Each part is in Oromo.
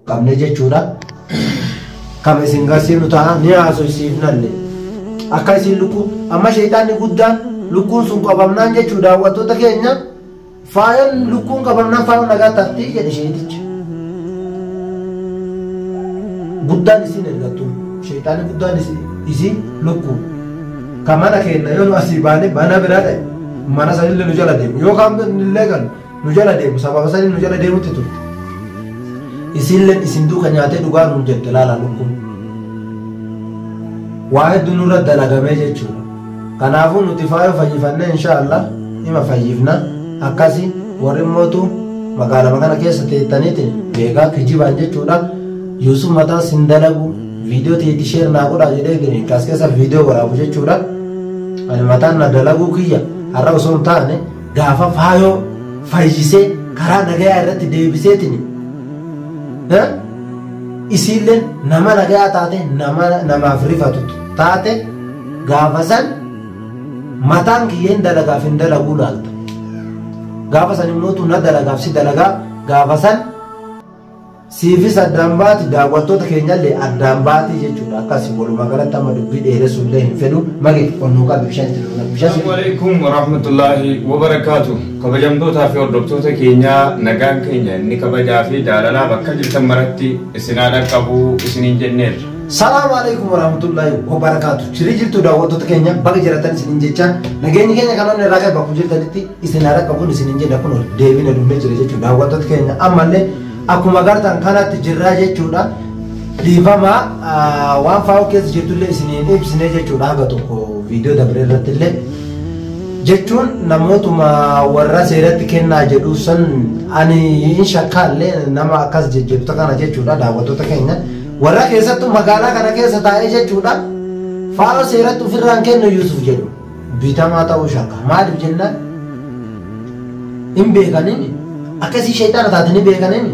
qabne jechuudha. Kam isin garsiifnu ta'a ni haasofsiifnalle. Akka isin lukkuu amma sheexaanni guddaan lukkuun sun qabamnaan jechuu daawwattoota keenya faayoon lukkuun qabamnaan faayoo nagaa taatti jedhe sheexichi. Guddaan isin ergattu sheexaanni guddaan isin- isin lukkuu. Kan mana keenya yoo nu asii baane mana biraa ta'e mana sanillee nu jala deemu yookaan illee galu. nu jala deemu sababa saniin nu jala deemutti turte isiilleen isin duuka nyaatee dhugaa nuun jette laala lukkuun waa hedduu nurra dalagamee jechuudha kanaafuu nuti faayoo fayyifannee inshaallah ima fayyifna akkasi warri mootu magaalama kana keessa teettaniiti beekaa kijibaan jechuudha yuusuf mataa sin dalagu viidiyoo teetti sheer naa godhaa jedhee gini kaas keessa viidiyoo waraabu jechuudha ani mataan na dalaguu kiyya har'a osoo hin taane gaafa faayoo fayyisee karaa nagayaa irratti deebiseetiin isiillee nama nagayaa taate nama namaaf rifatu taate gaafa san mataan kiyyeen dalagaaf hin dalaguu laalta gaafa san immoo na dalagaaf si dalagaa gaafa san Siifis addaan baati daawwattoota keenyallee addaan baati jechuudha akkasi walumaa galatti amma dubbii dheeressuu illee hin fedhu mage ol nuu qabi bishaan itti dhugna bishaan Assalamu alaikum warahmatullahi wabarakatuh. Kabajamtootaa fi hordoftoota keenyaa nagaan keenya inni kabajaa fi jaalalaa bakka jirtan maratti isin haa dhaqqabu isiniin jenneerra. Salaamu alaikum warahmatullahi wabarakatuh. Chirii jirtu daawwattoota keenya baga jiratan isinin jecha nageenyi keenya kan onni irraa qabu jirtanitti isin haa dhaqqabuun isinin jedha kun deebina dunnee jira jechuudha daawwattoota keenya ammallee Akkuma agartan kanatti jirra jechuudha. Dhiifama waan faa'oo keessa jirtullee isin hin ibsine jechuudha haga tokko viidiyoo dabre irrattillee. Jechuun namootuma warra seeratti kennaa jedhu san ani hin shakkaallee nama akkas jejjeefta kana jechuudha daawwattoota keenya. Warra keessattuu magaalaa kana keessa taa'ee jechuudha. Faa'oo seeratti ofirraan kennu Yuusuf jedhu. bitamaa ta'uu shakka maaliif jennaan hin beekaniin akkasii shayxaana taate ni beekaniin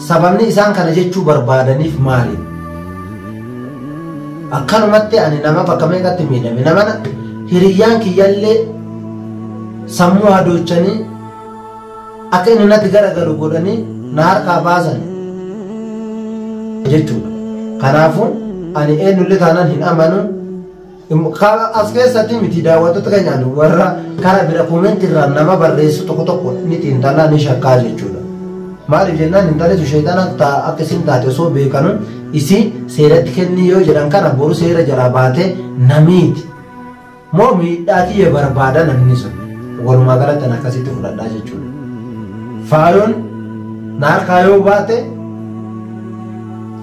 sababni isaan kana jechuu barbaadaniif maali akkanumatti ani nama bakka meeqatti miidhame nama hiriyyaan kiyyallee sammuu hadoochanii akka inni natti garagalu godhanii na harkaa baasan jechuudha kanaafuu ani eenyullee taanaan hin amanu Kana as keessatti miti daawwattoota keenyaan warra karaa bira koomenti irraa nama barreessu tokko tokko ni xiinxalaa ni shakkaa jechuudha. Maaliif jennaan intalitu sheexana ta'a akka isin taate osoo beekanu isii seeratti kennii yoo jedhan kana boru seera jalaa baatee namiiti. Moo miidhaa tiyya barbaada namni sun walumaa galatti an akkasitti fudhadhaa jechuudha. Faayoon na harkaa yoo baate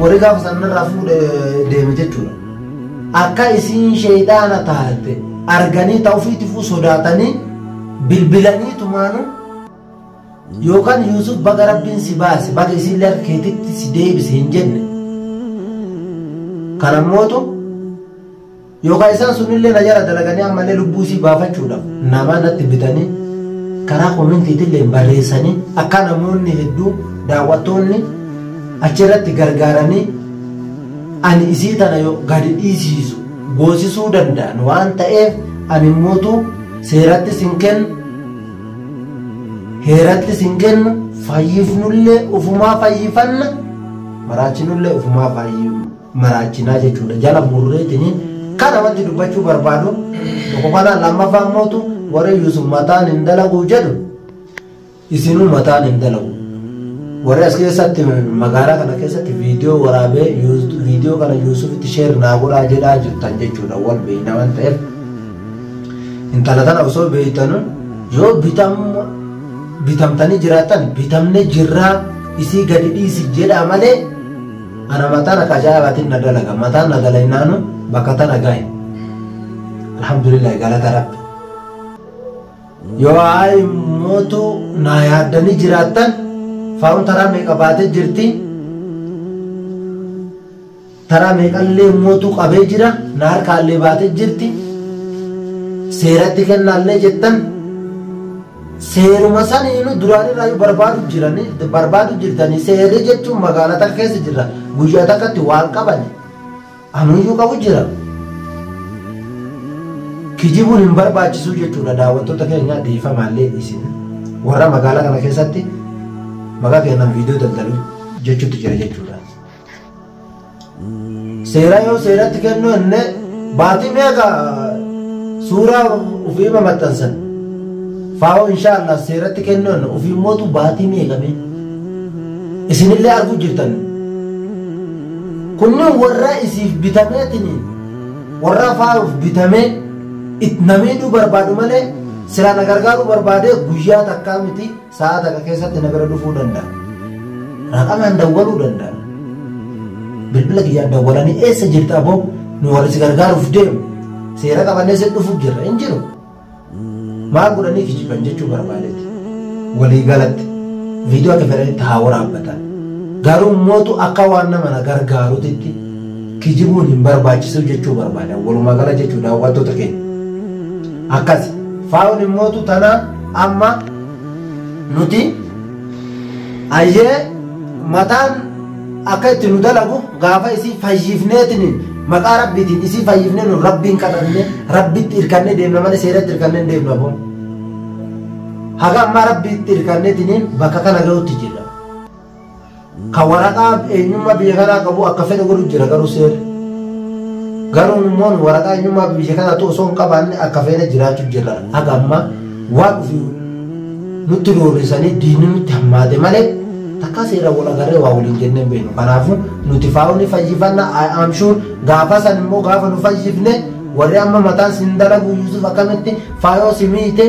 Warri gaafa sanarraa fuudhe deeme jechuudha. Akka isiin sheeyxaana taate arganii ta ofiitifuu sodaatanii bilbilanii tumaanu yookaan Yuusuf baga rabbiin si baase baga isiin lafa keetitti si deebise hin jenne. Kana mootu Yookaan isaan sunillee na jala dalaganii ammallee lubbuu isii baafachuudhaaf namaa natti bitanii karaa koomentiitillee barreessanii akka namoonni hedduu daawwattoonni achirratti gargaaranii ani isii tana yoo gadi dhiisiisu goosisuu danda'an waan ta'eef ani mootu seerattis hin kennu heerattis hin kennu fayyifnullee ufumaa fayyifanna maraachinullee ufumaa fayyifna. maraachinaa jechuudha jala murreetini kana wanti dubbachuu barbaadu tokko kana lammaffaa immootu warra Yuusuf mataan hin dalagu jedhu isinuu mataan hin dalagu warri as keessatti magaalaa kana keessatti viidiyoo waraabee viidiyoo kana Yuusufitti sheer naa godhaa jedhaa jirtan jechuudha wal beeyna waan ta'eef intala tana osoo beeytanu yoo bitam bitamtanii jiraatan bitamne jirraa isii gadi dhiisi jedhaa malee Ana matana ka ajaa'ibatin na dalaga mataan na dalaynaanu bakka tana gahe alhamdulillahi galata rabbi yoo ayi mootu naa yaaddanii jiraattan faa'uun taraa meeqa baatee jirti taraa meeqallee mootu qabee jira na harkaallee baatee jirti seeratti kennaallee jettan Seeruma saniinu duraan irraayyuu barbaadu jirani barbaadu jirtanii seerri jechuun magaalaa takka keessa jirra guyyaa takkatti waan qabani anuyyuu qabu jira kijibuun hin barbaachisuu jechuudha daawwattoota keenyaa dhiifamaallee isin warra magaalaa kana keessatti maqaa keenyaan viidiyoo daldalu jechuutti jira jechuudha. Seeraa yoo seeratti kennu jennee baatii meeqa suuraa ofiima maxxansan faa'oo inshaallah seeratti kennu jenna ofii mootu baatii meeqa mee isinillee arguu jirtan kunniin warraa isiif bitameetini warraa faa'uuf bitamee it namiidhuu barbaadu malee silaa na gargaaruu barbaadee guyyaa takkaa miti Sa'a takka keessatti na bira dhufuu danda'a. Raqamaan dawwaluu danda'a. Bilbila kiyyaan dawwalanii eessa jirta aboo nu warri si gargaaruuf deemu seera qabannee si dhufuuf jirra hin jiru. Maal godhanii kijiban jechuu barbaadeeti. Walii galatti viidiyoo akka fedhanitti haa waraabbatan. Garuu mootu akka waan nama na gargaaruutitti kijibuun hin barbaachisu jechuu barbaada. Walumaa gala jechuu daawwattoota keenya. Akkas faawun mootu tanaa amma nuti ayyee mataan akka itti nu dalagu gaafa isii fayyifneetiin maqaa rabbiitiin isii fayyifnee nu rabbiin kadhanne rabbitti irkannee deemna malee seeratti irkannee hin deemnu aboo haga ammaa rabbiitti irkanneetiin bakka kana ga'utti jirra Ka waraqaa eenyummaa biyya kanaa qabu akka fedhe godhu jira garuu seerri. Garuu immoo waraqaa eenyummaa biyya kanaatu osoo hin qabaanne akka feene jiraachuu jirra. Haga ammaa waan dhufi nutti roorrisanii diinni nutti hammaate malee takkaa seeraan wal agarree waa waliin jennee hin beeknu. Kanaafuu nuti faa'uu ni fayyifanna I am sure gaafa san immoo gaafa nu fayyifne warri amma mataan sin dalagu Yusuf akkamitti faayoo si miite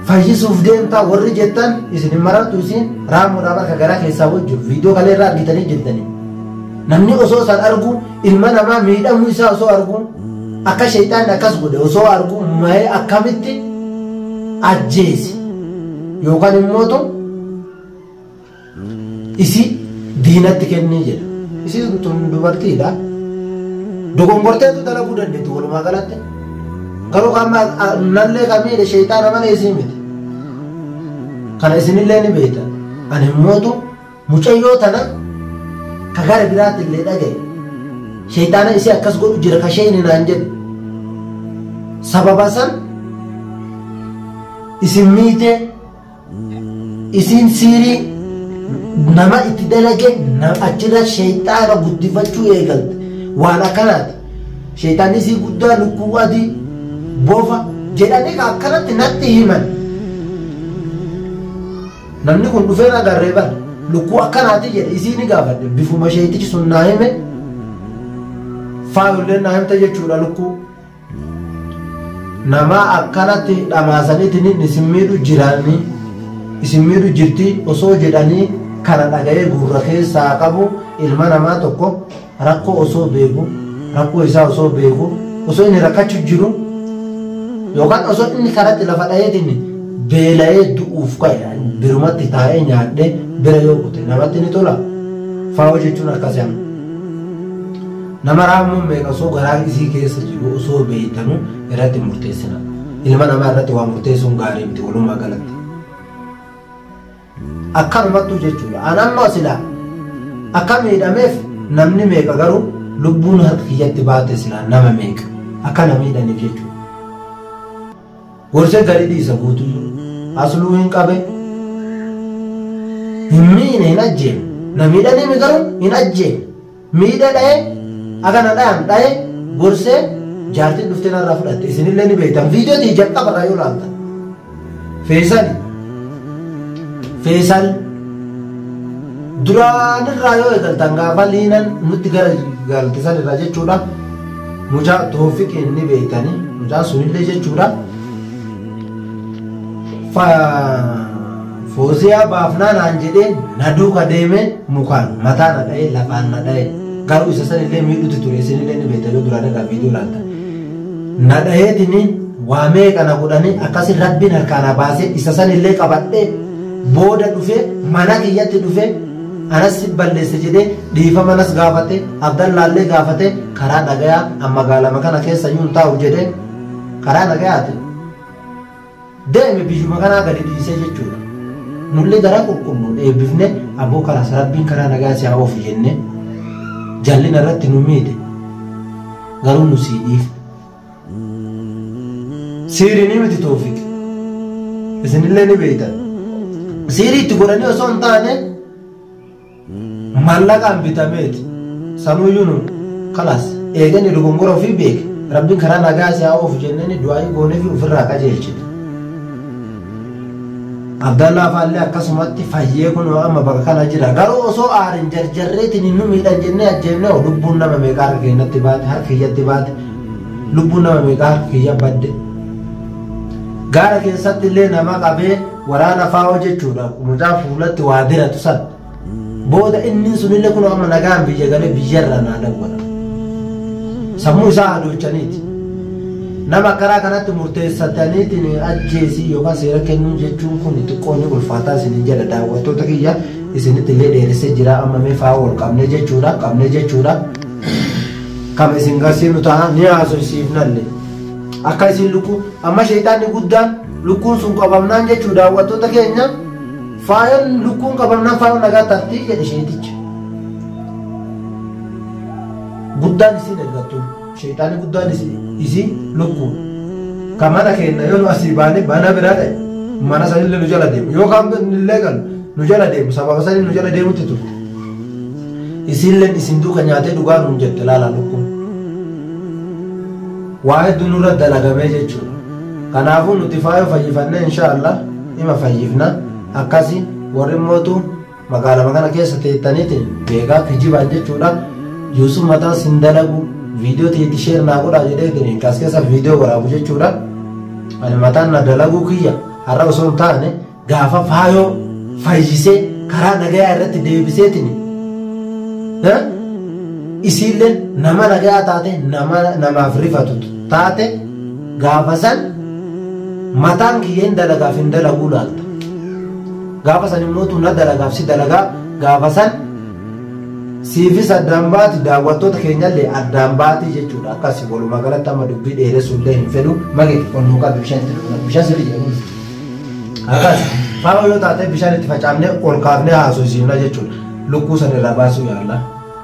fayyisuuf deemtaa warri jettan isin hin marartu isin raamuudhaa bakka garaa keessaa wajju viidiyoo kalee irraa argitanii jirtanii namni osoo isaan argu ilma namaa miidhamuu isaa osoo argu akka sheexaan akkas godhe osoo argu ma'ee akkamitti ajjeese yookaan immoo Isi diinatti kennii jedha. Isi tun dubartiidha. Dogongorteetu dalaguu dandeetti walumaa galatti. Garuu kan nallee kan miidhe sheeyxaana malee isii miti. Kana isinillee ni beektan. Ani immootu mucayyoo tana ka gara biraatti illee dhagaye. Sheeyxaana isii akkas godhu jira ka sheeyni naan jedhe. Sababa san isin miitee isiin siirii nama itti dalage na- achirra sheeyxaana guddifachuu eegalte waan akkanaati sheeyxaanni isii guddaa lukkuu adii bofa jedhanii ka akkanatti natti himan namni kun dhufee na garree bar lukkuu akkanaati jedhe isii ni gaafadhe bifuma sheeyxichi sun naa hime faayolleen naa himte jechuudha lukkuu Namaa akkanatti dhamaasaniitiin isin miidhu jiraanii, isin miidhu jirti osoo jedhanii kana dhaga'ee gurra keessa haa qabu ilma namaa tokko rakkoo osoo beeku, rakkoo isaa osoo beeku, osoo inni rakkachu jiru yookaan osoo inni karatti lafa dhayeetiin beela'ee du'uuf ka'e birumatti taa'ee nyaadhee bira yoo kute namatti ni tola? Faawoo jechuun akkasii amma. Nama raammoon meeqa osoo garaan isii keessa jiru osoo beeytanu irratti hin murteessina. Ilma namaa irratti waa murteessuun gaarii miti walumaa galatti. Akkanumattuu jechuudha. An amma silaa akka miidhameef namni meeqa garuu lubbuun harka kiyyatti baate silaa nama meeqa akka na miidhaniif jechuudha. Gorsee gadi dhiisa guutuu jiru. Asluu hin qabe. Hin miine hin ajjeefne. Na miidhaniimi garuu hin ajjeefne. Miidhe dhaye akka na dhayan dhaye gorsee jaartiin dhuftee narraa fudhatte isinillee ni beektan viidiyoo ta'e jalqaba irraa yoo laaltan. Feesal Feesal duraanirraa yoo eegaltan gaafa liinan nutti gara galtisan irraa jechuudha. Mucaa toofiqiin ni beektanii mucaa sunillee jechuudha. Fa Fooziyaa baafnaa naan jedhee na duuka deemee mukaan mataa na dha'ee lafaan na dha'ee garuu isa san illee miidhutti ture isin illee ni beekta yoo duraan irraa viidiyoo laalta. Na dha'eetiniin waa meeqa na godhanii akkasi rabbiin harkaa na baasee isa san illee qabadhee booda dhufee mana kiyyatti dhufee anas si balleesse jedhee dhiifama nas gaafate abdallaallee gaafate karaa dhagayaa amma gaalama kana keessa yuun taa'u jedhee karaa dhagayaati. Deeme biyyuma kanaa gadi dhiisee jechuudha. Nullee garaa qulqulluun eebbifne aboo karaa sarabbiin karaa nagaa si haa oofu jenne jallina irratti nu miidhe garuu nu sii dhiif. Siirii ni miti toofiq. Isinillee ni beektan. Siirii itti godhanii osoo hin taane Mallaqaan bitameet sanuuyyuu nuun kalaas eega inni dogongora ofii beeke rabbiin karaa nagaa si haa oofu jennee du'aa'ii gooneefi ofirraa qajeelchine. Abdallaa faallee akkasumatti fayyee kunoo amma bakka kana jira garuu osoo aarin jarjarreetiin nu miidhan jennee ajjeefne hoo lubbuun nama meeqa harka keenyatti baate harka kiyyatti baate lubbuun nama meeqa harka kiyya badde gaara keessatti illee nama qabee Waraana faawoo jechuudha mucaa fuulatti waa diratu san. Booda inni sunillee kun amma nagaan biyya galee biyyarraa naa dawwala. Sammuu isaa hadochaniiti. Nama karaa kanatti murteessataniitiin ajjeesii yookaan seera kennuu jechuun kun xiqqoo ni ulfaataa isinin jedha daawwattoota kiyya isinitti illee dheeressee jira amma mee faawoo ol qabnee jechuudha qabnee jechuudha. Kam isin garsiifnu ta'a ni haasofsiifnalle. Akka isin lukkuu amma sheexaanni guddaan Lukkuun sun qabamnaan jechuun daawwattoota keenya faayoon lukkuun qabamnaan faayoon nagaa tafti jedhe sheeticha. Guddaan isiin ergattu sheetaani guddaan isiin lukkuun kan mana keenya yoo nu asii baane mana biraa ta'e mana sanillee nu jala deemu yookaan illee kan nu jala deemu sababa sanii nu jala deemutti turte. Isiilleen isin duuka nyaatee dhugaa nuun jette laalaa lukkuun. Waa hedduu nurra dalagamee jechuudha. Kanaafuu nuti faayoo fayyifannee inshaa Allah ima fayyifna akkasi warri mootu magaalama kana keessa teettaniitiin beekaa kijibaan jechuudha Yuusuf mataan sin dalagu viidiyoo teetti sheer naa godhaa jedheetiin kaas keessa viidiyoo waraabu jechuudha ani mataan na dalaguu kiyya har'a osoo hin taane Gaafa faayoo fayyisee karaa nagayaa irratti deebiseetiin isiillee nama nagayaa taate namaaf rifatu taate gaafa san mataan kiyyeen dalagaaf hin dalaguu laalta. Gaafa san immoo tuna dalagaaf si dalagaa gaafa san siifis addaan baati daawwattoota keenyallee addaan baati jechuudha akkasi walumaa galatti amma dubbii dheeressuullee hin fedhu mage ol nu qabi bishaan bishaan sirrii jedhamu. Akkas faama yoo taate bishaan itti facaafnee ol kaafnee haasofsiifna jechuudha. Lukkuu sana irraa baasuu yaalla.